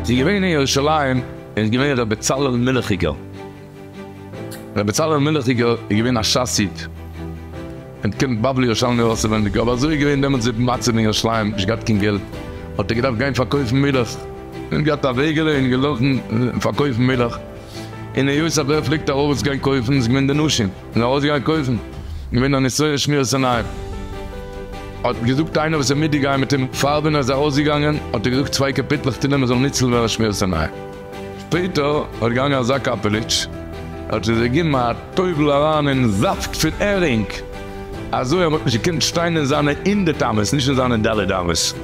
ס'איז געווען אין ירושלים איז געווען ר' בצלאל מילכיגער, ר' בצלאל מילכיגער איז געווען א שס איד, און קומט בבלי ירושלמי אויסעווענדיג, אבער אזוי איז געווען דעמאלטס די מצב אין ירושלים, נישט געהאט קיין געלט, האט ער געדארפט גיין פארקויפן מילך, נישט געהאט א וועגעלע און געלאפן פארקויפן מילך. און היות אז ער פלעגט ארויס גיין קויפן איז געווען די נשים און ארויסגייען קויפן געווען א נסיון שמירת עיניים. האט געזאגט איינער וואס איז מיטיג גייען מיט אים פאר ווען ער איז ארויסגעגאנגען האט ער געזאגט צוויי קאפיטלעך תהילים ער זאל ניצל ווען ער שמירת עיניים. שפעטער האט געגאנגען אזא קאפעליטש האט ער זיך געגעבן א טובל אריין אין זאפט פון ערינג אזוי אז מען האט נישט געקענט שטיין אין זיינע אינדערטעמעס נישט אין זיינע ד' אמות.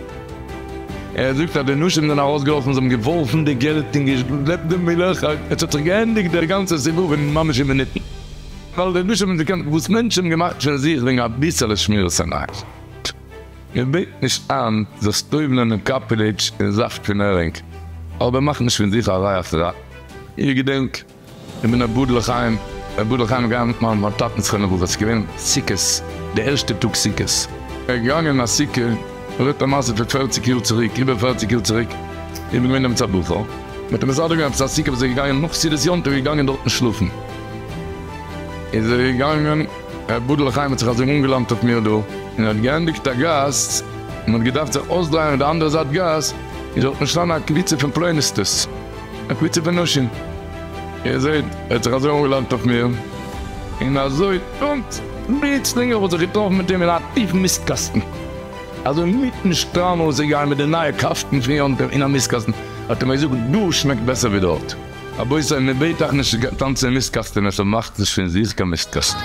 ער זאגט אז די נשים זענען ארויסגעלאפן און זיי האבן געווארפן די געלט און געשלעפט די מילך, עס האט זיך געענדיגט דער גאנצער סיבוב אין ממש אין מינוטן, ווייל די נשים האבן דערקענט וואס מענטשן האבן געמאכט פון זיך וועגן אביסעלע שמירת עיניים. מען בעט נישט איין זיך סטויבלען אין קאפעליטש און זאפט פון הערינג, אבער מאך נישט פון זיך א רייכערייט. איר געדענקט איך בין אבד לחיים, אבד לחיים איז געגאנגען מיט מיין טאטענס חנוכה וואס איז געווען סוכות, די ערשטע טאג סוכות, ער איז געגאנגען אין א סוכה, ער רעדט א מעשה פון פערציג יאר צוריק, איבער פערציג יאר צוריק, איך בין געווען דעמאלטס א בחור, מען האט אים מסדר געווען עפעס א סוכה וואס ער איז געגאנגען נאך סעודת יום טוב איז ער געגאנגען דארטן שלאפן, איז ער געגאנגען, אבד לחיים האט זיך אזוי אנגעלאנט אויף מיר דא, און ער האט געענדיגט א גאס, מען האט געדארפט זיך אויסדרייען אויף די אנדערע זייט גאס, איז דארט געשטאנען א קבוצה פון פלוניסטעס, א קבוצה פון נשים, איר זעט, ער האט זיך אזוי אנגעלאנט אויף מיר, און אזוי פונקט פלוצלינג האב איך זיך געטראפן מיט אים אין א טיפן מיסטקאסטן, אזוי מיטן שטראם אויסגעגאנגען מיט די נייע קאפטן פון יום טוב אין א מיסטקאסטן, האט ער מיר געזאגט, דא שמעקט בעסער ווי דארט. רבותי, מען בעט אייך נישט טאנצן אין מיסטקאסטענעס, אבער מאכטס נישט פון זיך קיין מיסטקאסטן.